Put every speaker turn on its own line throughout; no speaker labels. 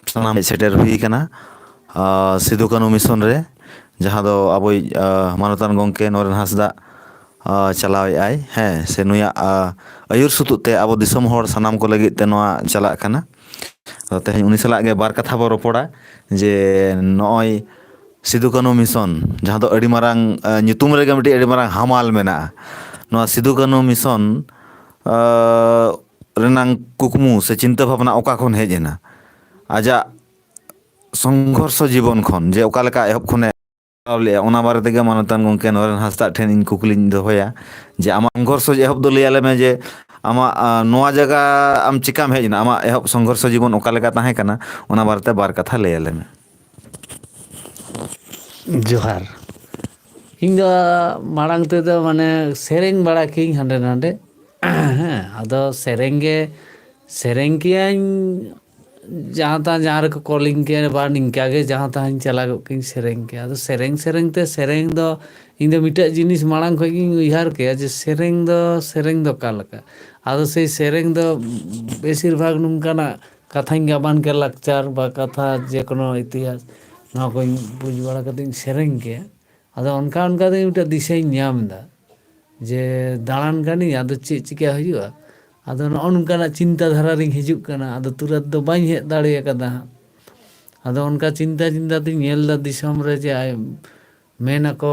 ᱥᱟᱱᱟᱢ ᱥᱮᱴᱮᱨ ᱦᱩᱭ ᱠᱟᱱᱟ ᱥᱤᱫᱩ ᱠᱟᱹᱱᱩ ᱢᱤᱥᱚᱱ ᱨᱮ ᱡᱟᱦᱟᱸ ᱫᱚ ᱟᱵᱚᱭᱤᱡ ᱢᱟᱱᱚᱛᱟᱱ ᱜᱚᱢᱠᱮ ᱱᱚᱨᱮᱱ ᱦᱟᱸᱥᱫᱟ ᱪᱟᱞᱟᱣᱮᱫ ᱟᱭ ᱦᱮᱸ ᱥᱮ ᱱᱩᱭᱟᱜ ᱟᱹᱭᱩᱨ ᱥᱩᱛᱩᱜ ᱛᱮ ᱟᱵᱚ ᱫᱤᱥᱚᱢ ᱦᱚᱲ ᱥᱟᱱᱟᱢ ᱠᱚ ᱞᱟᱹᱜᱤᱫ ᱛᱮ ᱱᱚᱣᱟ ᱪᱟᱞᱟᱜ ᱠᱟᱱᱟ ᱛᱮᱦᱮᱧ ᱩᱱᱤ ᱥᱟᱞᱟᱜ ᱜᱮ ᱵᱟᱨ ᱠᱟᱛᱷᱟ ᱵᱚ ᱨᱚᱯᱚᱲᱟ ᱡᱮ ᱱᱚᱜᱼᱚᱭ ᱥᱤᱫᱩ ᱠᱟᱹᱱᱩ ᱢᱤᱥᱚᱱ ᱡᱟᱦᱟᱸ ᱫᱚ ᱟᱹᱰᱤ ᱢᱟᱨᱟᱝ ᱧᱩᱛᱩᱢ ᱨᱮᱜᱮ ᱢᱤᱫᱴᱤᱡ ᱟᱹᱰᱤ ᱢᱟᱨᱟᱝ ᱦᱟᱢᱟᱞ ᱢᱮᱱᱟᱜᱼᱟ ᱱᱚᱣᱟ ᱥᱤᱫᱩ ᱠᱟᱹᱱᱩ ᱢᱤᱥᱚᱱ ᱨᱮᱱᱟᱝ ᱠᱩᱠᱢᱩ ᱥᱮ ᱪᱤᱱᱛᱟᱹ ᱵᱷᱟᱵᱽᱱᱟ ᱚᱠᱟ ᱠᱷᱚᱱ ᱦᱮᱡ ᱮᱱᱟ ᱟᱡᱟᱜ ᱥᱚᱝᱜᱷᱚᱨᱥᱚ ᱡᱤᱵᱚᱱ ᱠᱷᱚᱱ ᱡᱮ ᱚᱠᱟ ᱞᱮᱠᱟ ᱮᱦᱚᱵ ᱠᱷᱚᱱᱮ ᱞᱮᱫᱼᱟ ᱚᱱᱟ ᱵᱟᱨᱮ ᱛᱮᱜᱮ ᱢᱟᱱᱚᱛᱟᱱ ᱜᱚᱢᱠᱮ ᱱᱚᱨᱮᱱ ᱦᱟᱸᱥᱫᱟᱜ ᱴᱷᱮᱱ ᱤᱧ ᱠᱩᱠᱞᱤᱧ ᱫᱚᱦᱚᱭᱟ ᱡᱮ ᱟᱢᱟᱜ ᱥᱚᱝᱜᱷᱚᱨᱥᱚ ᱮᱦᱚᱵ ᱫᱚ ᱞᱟᱹᱭᱟᱞᱮ ᱢᱮ ᱡᱮ ᱟᱢᱟᱜ ᱱᱚᱣᱟ ᱡᱟᱭᱜᱟ ᱟᱢ ᱪᱤᱠᱟᱢ ᱦᱮᱡ ᱮᱱᱟ ᱟᱢᱟᱜ ᱮᱦᱚᱵ ᱥᱚᱝᱜᱷᱚᱨᱥᱚ ᱡᱤᱵᱚᱱ ᱚᱠᱟ ᱞᱮᱠᱟ ᱛᱟᱦᱮᱸ ᱠᱟᱱᱟ ᱚᱱᱟ ᱵᱟᱨᱮᱛᱮ ᱵᱟᱨ ᱠᱟᱛᱷᱟ ᱞᱟᱹᱭᱟᱞᱮ ᱢᱮ
ᱡᱚᱦᱟᱨ ᱤᱧ ᱫᱚ ᱢᱟᱲᱟᱝ ᱛᱮᱫᱚ ᱢᱟᱱᱮ ᱥᱮᱨᱮᱧ ᱵᱟᱲᱟ ᱠᱤᱭᱟᱹᱧ ᱦᱟᱸᱰᱮ ᱱᱟᱰᱮ ᱦᱮᱸ ᱟᱫᱚ ᱥᱮᱨᱮᱧ ᱜᱮ ᱥᱮᱨᱮᱧ ᱠᱤᱭᱟᱹᱧ ᱡᱟᱦᱟᱸ ᱛᱟᱦᱟᱸ ᱡᱟᱦᱟᱸ ᱨᱮᱠᱚ ᱠᱚᱞᱤᱧ ᱠᱮᱭᱟ ᱵᱟ ᱱᱤᱝᱠᱟ ᱜᱮ ᱡᱟᱦᱟᱸ ᱛᱟᱦᱟᱸᱧ ᱪᱟᱞᱟᱜᱚᱜ ᱠᱤᱭᱟᱹᱧ ᱥᱮᱨᱮᱧ ᱠᱮᱭᱟ ᱟᱫᱚ ᱥᱮᱨᱮᱧ ᱥᱮᱨᱮᱧ ᱛᱮ ᱥᱮᱨᱮᱧ ᱫᱚ ᱤᱧ ᱫᱚ ᱢᱤᱫᱴᱮᱡ ᱡᱤᱱᱤᱥ ᱢᱟᱲᱟᱝ ᱠᱷᱚᱡ ᱜᱤᱧ ᱩᱭᱦᱟᱹᱨ ᱠᱮᱭᱟ ᱡᱮ ᱥᱮᱨᱮᱧ ᱫᱚ ᱥᱮᱨᱮᱧ ᱫᱚ ᱚᱠᱟ ᱞᱮᱠᱟ ᱟᱫᱚ ᱥᱮᱭ ᱥᱮᱨᱮᱧ ᱫᱚ ᱵᱮᱥᱤᱨ ᱵᱷᱟᱜᱽ ᱱᱚᱝᱠᱟᱱᱟᱜ ᱠᱟᱛᱷᱟᱧ ᱜᱟᱵᱟᱱ ᱠᱮᱭᱟ ᱞᱟᱠᱪᱟᱨ ᱵᱟ ᱠᱟᱛᱷᱟ ᱡᱮᱠᱳᱱᱳ ᱤᱛᱤᱦᱟᱥ ᱱᱚᱣᱟ ᱠᱚᱧ ᱵᱩᱡᱽ ᱵᱟᱲᱟ ᱠᱟᱛᱮᱫ ᱤᱧ ᱥᱮᱨᱮᱧ ᱠᱮᱭᱟ ᱟᱫᱚ ᱚᱱᱠᱟ ᱚᱱᱠᱟ ᱛᱮᱜᱮ ᱢᱤᱫᱴᱮᱱ ᱫᱤᱥᱟᱹᱧ ᱧᱟᱢ ᱮᱫᱟ ᱡᱮ ᱫᱟᱬᱟᱱ ᱠᱟᱹᱱᱟᱹᱧ ᱟᱫᱚ ᱪᱮᱫ ᱪᱤᱠᱟᱹ ᱦᱩᱭᱩᱜᱼᱟ ᱟᱫᱚ ᱱᱚᱜᱼᱚ ᱱᱚᱝᱠᱟᱱᱟᱜ ᱪᱤᱱᱛᱟᱹ ᱫᱷᱟᱨᱟ ᱨᱤᱧ ᱦᱤᱡᱩᱜ ᱠᱟᱱᱟ ᱟᱫᱚ ᱛᱩᱨᱟᱹᱛ ᱫᱚ ᱵᱟᱹᱧ ᱦᱮᱡ ᱫᱟᱲᱮ ᱟᱠᱟᱫᱟ ᱦᱟᱸᱜ ᱟᱫᱚ ᱚᱱᱠᱟ ᱪᱤᱱᱛᱟᱹ ᱪᱤᱱᱛᱟᱹ ᱛᱤᱧ ᱧᱮᱞ ᱮᱫᱟ ᱫᱤᱥᱚᱢ ᱨᱮ ᱡᱮ ᱢᱮᱱ ᱟᱠᱚ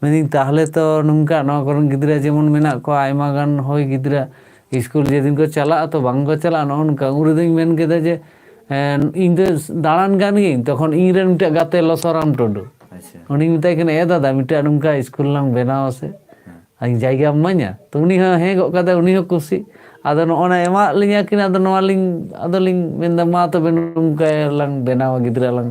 ᱢᱮᱱᱫᱟᱹᱧ ᱛᱟᱦᱞᱮ ᱛᱚ ᱱᱚᱝᱠᱟ ᱱᱚᱣᱟ ᱠᱚᱨᱮᱱ ᱜᱤᱫᱽᱨᱟᱹ ᱡᱮᱢᱚᱱ ᱢᱮᱱᱟᱜ ᱠᱚᱣᱟ ᱟᱭᱢᱟ ᱜᱟᱱ ᱦᱚᱭ ᱜᱤᱫᱽᱨᱟᱹ ᱤᱥᱠᱩᱞ ᱡᱮᱫᱤᱱ ᱠᱚ ᱪᱟᱞᱟᱜᱼᱟ ᱛᱚ ᱵᱟᱝ ᱠᱚ ᱪᱟᱞᱟᱜᱼᱟ ᱱᱚᱜᱼᱚ ᱱᱚᱝᱠᱟ ᱩᱱ ᱨᱮᱫᱚᱧ ᱢᱮᱱ ᱠᱮᱫᱟ ᱡᱮ ᱤᱧ ᱫᱚ ᱫᱟᱬᱟᱱ ᱠᱟᱱ ᱜᱤᱭᱟᱹᱧ ᱛᱚᱠᱷᱚᱱ ᱤᱧ ᱨᱮᱱ ᱢᱤᱫᱴᱮᱡ ᱜᱟᱛᱮ ᱞᱚᱥᱚᱨᱟᱢ ᱴᱩᱰᱩ ᱩᱱᱤᱧ ᱢᱮᱛᱟᱭ
ᱠᱟᱱᱟ ᱮ ᱫᱟᱫᱟ
ᱢᱤᱫᱴᱮᱡ ᱱᱚᱝᱠᱟ ᱤᱥᱠᱩᱞ ᱞᱟᱝ ᱵᱮᱱᱟᱣ ᱟᱥᱮ ᱟᱹᱧ ᱡᱟᱭᱜᱟᱢ
ᱮᱢᱟᱹᱧᱟ
ᱛᱚ ᱩᱱᱤ ᱦᱚᱸ ᱦᱮᱸ ᱜᱚᱫ ᱠᱟᱫᱟᱭ ᱩᱱᱤ ᱦᱚᱸ ᱠᱩᱥᱤ ᱟᱫᱚ ᱱᱚᱜᱼᱚ ᱱᱟ ᱮᱢᱟᱜ ᱞᱤᱧᱟ ᱠᱤᱱ ᱟᱫᱚ ᱱᱚᱣᱟ ᱞᱤᱧ ᱟᱫᱚ ᱞᱤᱧ ᱢᱮᱱᱫᱟ ᱢᱟ ᱛᱚᱵᱮ ᱱᱚᱝᱠᱟ ᱞᱟᱝ ᱵᱮᱱᱟᱣᱟ ᱜᱤᱫᱽᱨᱟᱹ ᱞᱟᱝ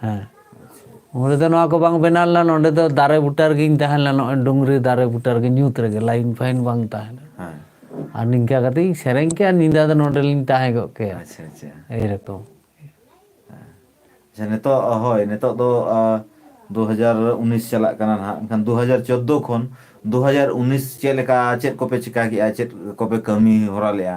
ᱦᱮᱸ
ᱩᱱᱨᱮ ᱫᱚ ᱱᱚᱣᱟ ᱠᱚ ᱵᱟᱝ
ᱵᱮᱱᱟᱣ ᱞᱮᱱᱟ ᱱᱚᱸᱰᱮ ᱫᱚ ᱫᱟᱨᱮ ᱵᱩᱴᱟᱹ ᱨᱮᱜᱮᱧ ᱛᱟᱦᱮᱸ ᱞᱮᱱᱟ ᱱᱚᱜᱼᱚᱭ ᱰᱩᱝᱨᱤ ᱫᱟᱨᱮ ᱵᱩᱴᱟᱹ ᱨᱮᱜᱮ ᱧᱩᱛ ᱨᱮᱜᱮ ᱞᱟᱭᱤᱱ ᱯᱷᱟᱭᱤᱱ ᱵᱟᱝ ᱛᱟᱦᱮᱸ ᱞᱮᱱᱟ ᱦᱮᱸ ᱟᱨ
ᱱᱤᱝᱠᱟ
ᱠᱟᱛᱮ ᱤᱧ ᱥᱮᱨᱮᱧ ᱠᱮᱭᱟ ᱟᱨ ᱧᱤᱫᱟᱹ ᱫᱚ ᱱᱚᱸᱰᱮᱞᱤᱧ ᱛᱟᱦᱮᱸ ᱠᱚᱜ ᱠᱮᱭᱟ ᱟᱪᱪᱷᱟ ᱟᱪᱪᱷᱟ ᱮᱭ
ᱨᱚᱠᱚᱢ
ᱟᱪᱪᱷᱟ
ᱱᱤᱛᱚᱜ ᱦᱳᱭ ᱱᱤᱛᱚᱜ ᱫᱚ ᱫᱩ ᱦᱟᱡᱟᱨ ᱩᱱᱤᱥ ᱪᱟᱞᱟᱜ ᱠᱟᱱᱟ ᱱᱟᱦᱟᱜ ᱮᱱᱠᱷᱟᱱ ᱫᱩ ᱦᱟᱡᱟᱨ ᱪᱳᱫᱫᱳ ᱠᱷᱚᱱ ᱫᱩ ᱦᱟᱡᱟᱨ ᱩᱱᱤᱥ ᱪᱮᱫ ᱞᱮᱠᱟ ᱪᱮᱫ ᱠᱚᱯᱮ ᱪᱤᱠᱟ ᱠᱮᱜᱼᱟ ᱪᱮᱫ ᱠᱚᱯᱮ ᱠᱟᱹᱢᱤ ᱦᱚᱨᱟ ᱞᱮᱜᱼᱟ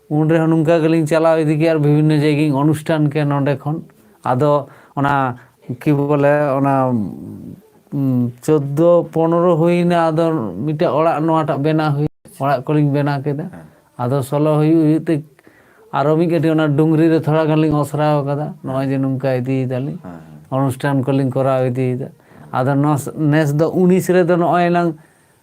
ᱩᱱ ᱨᱮᱦᱚᱸ ᱱᱚᱝᱠᱟ ᱜᱮᱞᱤᱧ ᱪᱟᱞᱟᱣ ᱤᱫᱤ ᱠᱮᱫᱟ ᱟᱨ ᱵᱤᱵᱷᱤᱱᱱᱚ ᱡᱟᱭᱜᱟᱧ ᱚᱱᱩᱥᱴᱷᱟᱱ ᱠᱮᱫᱟ ᱱᱚᱸᱰᱮ ᱠᱷᱚᱱ ᱟᱫᱚ ᱚᱱᱟ ᱠᱤ ᱵᱚᱞᱮ ᱚᱱᱟ ᱪᱳᱫᱫᱳ ᱯᱚᱱᱨᱚ ᱦᱩᱭᱱᱟ ᱟᱫᱚ ᱢᱤᱫᱴᱮᱡ ᱚᱲᱟᱜ ᱱᱚᱣᱟᱴᱟᱜ ᱵᱮᱱᱟᱣ ᱦᱩᱭ ᱚᱲᱟᱜ ᱠᱚᱞᱤᱧ ᱵᱮᱱᱟᱣ ᱠᱮᱫᱟ ᱟᱫᱚ ᱥᱚᱞᱚ ᱦᱩᱭᱩᱜ ᱦᱩᱭᱩᱜ ᱛᱮ ᱟᱨᱚ ᱢᱤᱫ ᱠᱟᱹᱴᱤᱡ ᱚᱱᱟ ᱰᱩᱝᱨᱤ ᱨᱮ ᱛᱷᱚᱲᱟ ᱜᱟᱱ ᱞᱤᱧ ᱚᱥᱨᱟᱣ ᱠᱟᱫᱟ ᱱᱚᱜᱼᱚᱭ ᱡᱮ ᱱᱚᱝᱠᱟ ᱤᱫᱤᱭᱮᱫᱟᱞᱤᱧ ᱚᱱᱩᱥᱴᱷᱟᱱ ᱠᱚᱞᱤᱧ ᱠᱚᱨᱟᱣ ᱤᱫᱤᱭᱮᱫᱟ ᱟᱫᱚ ᱱᱚᱣᱟ ᱱᱮᱥ ᱫᱚ ᱩᱱᱤᱥ ᱨᱮᱫᱚ ᱱᱚᱜᱼᱚᱭ ᱮᱱᱟᱝ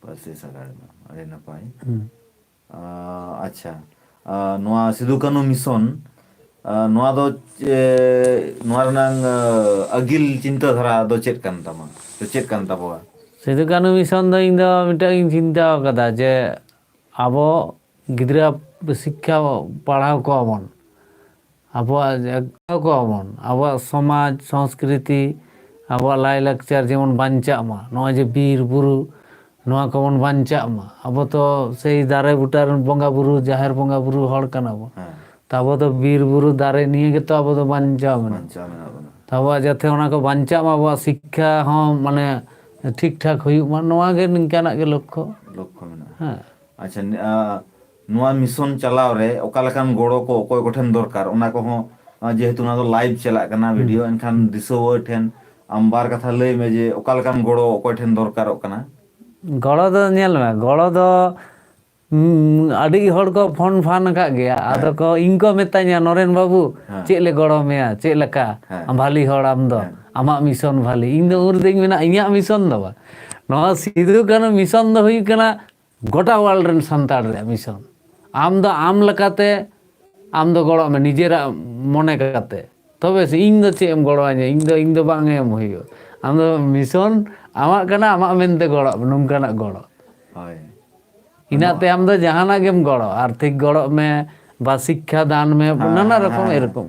ᱯᱟᱹᱨᱥᱤ ᱥᱟᱜᱟᱲ ᱢᱟ
ᱟᱹᱰᱤ ᱱᱟᱯᱟᱭ ᱦᱩᱸ ᱟᱪᱪᱷᱟ ᱱᱚᱣᱟ ᱥᱤᱫᱩ ᱠᱟᱹᱱᱩ ᱢᱤᱥᱚᱱ ᱱᱚᱣᱟ ᱫᱚ ᱪᱮ ᱱᱚᱣᱟ ᱨᱮᱱᱟᱝ ᱟᱹᱜᱤᱞ ᱪᱤᱱᱛᱟᱹ ᱫᱷᱟᱨᱟ ᱫᱚ ᱪᱮᱫ ᱠᱟᱱ ᱛᱟᱢᱟ ᱥᱮ ᱪᱮᱫ ᱠᱟᱱ ᱛᱟᱵᱚᱣᱟ ᱥᱤᱫᱩ ᱠᱟᱹᱱᱩ ᱢᱤᱥᱚᱱ
ᱫᱚ ᱤᱧ ᱫᱚ ᱢᱤᱫᱴᱟᱝ ᱤᱧ ᱪᱤᱱᱛᱟᱹ ᱟᱠᱟᱫᱟ ᱡᱮ ᱟᱵᱚ ᱜᱤᱫᱽᱨᱟᱹ ᱥᱤᱠᱠᱷᱟ ᱯᱟᱲᱦᱟᱣ ᱠᱚᱣᱟ ᱵᱚᱱ ᱟᱵᱚᱣᱟᱜ ᱡᱟᱜᱟᱣ ᱠᱚᱜᱼᱟ ᱵᱚᱱ ᱟᱵᱚᱣᱟᱜ ᱥᱚᱢᱟᱡᱽ ᱥᱚᱸᱥᱠᱨᱤᱛᱤ ᱟᱵᱚᱣᱟᱜ ᱞᱟᱭ ᱞᱟᱠᱪᱟᱨ ᱡᱮᱢᱚᱱ ᱵᱟᱧᱪᱟᱜ ᱢᱟ ᱱᱚᱜᱼᱚᱭ ᱡᱮ ᱵᱤᱨ ᱵᱩᱨᱩ ᱱᱚᱣᱟ ᱠᱚᱵᱚᱱ ᱵᱟᱧᱪᱟᱜ ᱢᱟ ᱟᱵᱚ ᱛᱚ ᱥᱮᱭ ᱫᱟᱨᱮ ᱵᱩᱴᱟᱹ ᱨᱮᱱ ᱵᱚᱸᱜᱟ ᱵᱩᱨᱩ ᱡᱟᱦᱮᱨ ᱵᱚᱸᱜᱟ ᱵᱩᱨᱩ ᱦᱚᱲ ᱠᱟᱱᱟ ᱵᱚᱱ ᱛᱚ ᱟᱵᱚ ᱫᱚ
ᱵᱤᱨ
ᱵᱩᱨᱩ ᱫᱟᱨᱮ ᱱᱤᱭᱮ ᱜᱮᱛᱚ ᱟᱵᱚ ᱫᱚ ᱵᱟᱧᱪᱟᱣ ᱢᱮᱱᱟᱜ ᱵᱟᱧᱪᱟᱣ ᱢᱮᱱᱟᱜ ᱵᱚᱱᱟ ᱛᱚ
ᱟᱵᱚᱣᱟᱜ ᱡᱟᱛᱮ ᱚᱱᱟ ᱠᱚ
ᱵᱟᱧᱪᱟᱜ ᱢᱟ ᱟᱵᱚᱣᱟᱜ ᱥᱤᱠᱠᱷᱟ ᱦᱚᱸ ᱢᱟᱱᱮ ᱴᱷᱤᱠ ᱴᱷᱟᱠ ᱦᱩᱭᱩᱜ ᱢᱟ ᱱᱚᱣᱟ ᱜᱮ ᱱᱤᱝᱠᱟᱱᱟᱜ ᱜᱮ ᱞᱚᱠᱠᱷᱚ ᱞᱚᱠᱠᱷᱚ ᱢᱮᱱᱟᱜᱼᱟ
ᱦᱮᱸ
ᱟᱪᱪᱷᱟ
ᱱᱚᱣᱟ ᱢᱤᱥᱚᱱ ᱪᱟᱞᱟᱣ ᱨᱮ ᱚᱠᱟ ᱞᱮᱠᱟᱱ ᱜᱚᱲᱚ ᱠᱚ ᱚᱠᱚᱭ ᱠᱚ ᱴᱷᱮᱱ ᱫᱚᱨᱠᱟᱨ ᱚᱱᱟ ᱠᱚ ᱦᱚᱸ ᱡᱮᱦᱮᱛᱩ ᱱᱚᱣᱟ ᱫᱚ ᱞᱟᱭᱤᱵᱷ ᱪᱟᱞᱟᱜ ᱠᱟᱱᱟ ᱦᱩᱸ ᱵᱷᱤᱰᱤᱭᱳ ᱮᱱᱠᱷᱟᱱ ᱫᱤᱥᱣᱟᱹ ᱴᱷᱮᱱ ᱟᱢ ᱵᱟᱨ ᱠᱟᱛᱷᱟ ᱞᱟᱹᱭ ᱢᱮ ᱡᱮ ᱚᱠᱟ ᱞᱮᱠᱟᱱ ᱜᱚᱲᱚ ᱚᱠᱚᱭ ᱴᱷᱮᱱ ᱫᱚᱨᱠᱟᱨᱚᱜ ᱠᱟᱱᱟ? ᱜᱚᱲᱚ ᱫᱚ
ᱧᱮᱞ ᱢᱮ ᱜᱚᱲᱚ ᱫᱚ ᱩᱸ ᱟᱹᱰᱤ ᱦᱚᱲ ᱠᱚ ᱯᱷᱳᱱ ᱯᱷᱟᱱ ᱟᱠᱟᱫ ᱜᱮᱭᱟ ᱟᱫᱚ ᱦᱮᱸ ᱠᱚ ᱤᱧ ᱠᱚ ᱢᱤᱛᱟᱹᱧᱟ ᱱᱚᱨᱮᱱ ᱵᱟᱹᱵᱩ ᱦᱮᱸ ᱪᱮᱫ ᱞᱮ ᱜᱚᱲᱚ ᱢᱮᱭᱟ
ᱪᱮᱫ
ᱞᱮᱠᱟ ᱦᱮᱸ ᱵᱷᱟᱞᱤ ᱦᱚᱲ ᱟᱢ
ᱫᱚ
ᱦᱮᱸ ᱟᱢᱟᱜ ᱢᱤᱥᱚᱱ ᱵᱷᱟᱞᱤ ᱤᱧ ᱫᱚ ᱦᱮᱸ ᱩᱱ ᱨᱮᱫᱚᱧ ᱢᱮᱱᱟ ᱤᱧᱟᱹᱜ ᱢᱤᱥᱚᱱ ᱫᱚ ᱵᱟᱝ ᱱᱚᱣᱟ ᱥᱤᱫᱩ ᱠᱟᱹᱱᱩ ᱢᱤᱥᱚᱱ ᱫᱚ ᱦᱩᱭᱩᱜ ᱠᱟᱱᱟ ᱜᱚᱴᱟ ᱣᱟᱨᱞᱰ ᱨᱮᱱ ᱥᱟᱱᱛᱟᱲ ᱨᱮᱭᱟᱜ ᱢᱤᱥᱚᱱ ᱟᱢ ᱫᱚ ᱟᱢ ᱞᱮᱠᱟᱛᱮ ᱟᱢ ᱫᱚ ᱜᱚᱲᱚ ᱢᱮ ᱱᱤᱡᱮᱨᱟᱜ ᱢᱚᱱᱮ ᱠᱟᱛᱮ ᱛᱚᱵᱮ ᱥᱮ ᱤᱧ ᱫᱚ ᱪᱮᱫ ᱮᱢ ᱜᱚᱲᱚ ᱟᱹᱧᱟ ᱤᱧ ᱫᱚ ᱤᱧ ᱫᱚ ᱵᱟᱝ ᱮᱢ ᱦᱩᱭᱩᱜᱼᱟ ᱟᱢ ᱫᱚ ᱢᱤᱥᱚᱱ ᱟᱢᱟᱜ ᱠᱟᱱᱟ ᱟᱢᱟᱜ ᱢᱮᱱᱛᱮ ᱜᱚᱲᱚ ᱢᱮ ᱱᱚᱝᱠᱟᱱᱟᱜ ᱜᱚᱲᱚ ᱦᱳᱭ
ᱤᱱᱟᱹᱜ
ᱛᱮ ᱟᱢ ᱫᱚ ᱡᱟᱦᱟᱱᱟᱜ ᱜᱮᱢ ᱜᱚᱲᱚ ᱟᱨᱛᱷᱤᱠ ᱜᱚᱲᱚ ᱢᱮ ᱵᱟ ᱥᱤᱠᱠᱷᱟ ᱫᱟᱱ ᱢᱮ ᱱᱟᱱᱟ ᱨᱚᱠᱚᱢ ᱮᱨᱚᱠᱚᱢ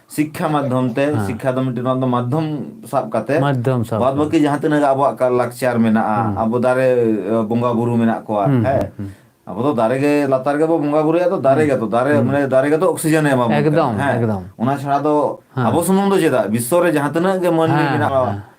ᱥᱤᱠᱠᱷᱟ ᱢᱟᱫᱽᱫᱷᱚᱢ ᱛᱮ ᱦᱮᱸ ᱥᱤᱠᱠᱷᱟ ᱫᱚ ᱢᱤᱫᱴᱮᱱ ᱱᱚᱣᱟ ᱫᱚ
ᱢᱟᱫᱽᱫᱷᱚᱢ
ᱥᱟᱵ ᱠᱟᱛᱮ ᱢᱟᱫᱽᱫᱷᱚᱢ ᱥᱟᱵ ᱵᱟᱫ ᱠᱟᱛᱮ ᱵᱟᱹᱠᱤ
ᱡᱟᱦᱟᱸ ᱛᱤᱱᱟᱹᱜ ᱟᱵᱚᱣᱟᱜ
ᱠᱟ ᱞᱟᱠᱪᱟᱨ ᱢᱮᱱᱟᱜᱼᱟ ᱦᱩᱸ ᱟᱵᱚ ᱫᱟᱨᱮ ᱵᱚᱸᱜᱟ ᱵᱩᱨᱩ ᱢᱮᱱᱟᱜ ᱠᱚᱣᱟ ᱦᱩᱸ ᱦᱩᱸ ᱦᱮᱸ ᱦᱩᱸ ᱟᱵᱚ ᱫᱚ ᱫᱟᱨᱮ ᱜᱮ ᱞᱟᱛᱟᱨ ᱨᱮᱜᱮ ᱵᱚ ᱵᱚᱸᱜᱟ ᱵᱩᱨᱩᱭᱟ ᱛᱚ ᱫᱟᱨᱮ ᱦᱩᱸ ᱜᱮᱛᱚ ᱫᱟᱨᱮ ᱦᱩᱸ ᱢᱟᱱᱮ ᱫᱟᱨᱮ ᱜᱮᱛᱚ ᱚᱠᱥᱤᱡᱮᱱᱮ ᱮᱢᱟᱵᱚᱱ ᱠᱟᱱᱟ ᱮᱠᱫᱚᱢ ᱦᱮᱸ ᱮᱠᱫᱚᱢ ᱚᱱᱟ ᱪᱷᱟᱲᱟ
ᱫᱚ ᱦᱮᱸ
ᱟᱵᱚ ᱥᱩᱢᱩᱝ ᱫᱚ ᱪᱮᱫᱟᱜ ᱵᱤᱥᱥᱚ ᱨᱮ ᱡᱟᱦᱟᱸ ᱛᱤᱱᱟᱹᱜ ᱜᱮ ᱢᱟᱹᱱᱢᱤ ᱦᱮᱸ ᱢᱮᱱᱟᱜ ᱠᱚᱣᱟ ᱦᱮᱸ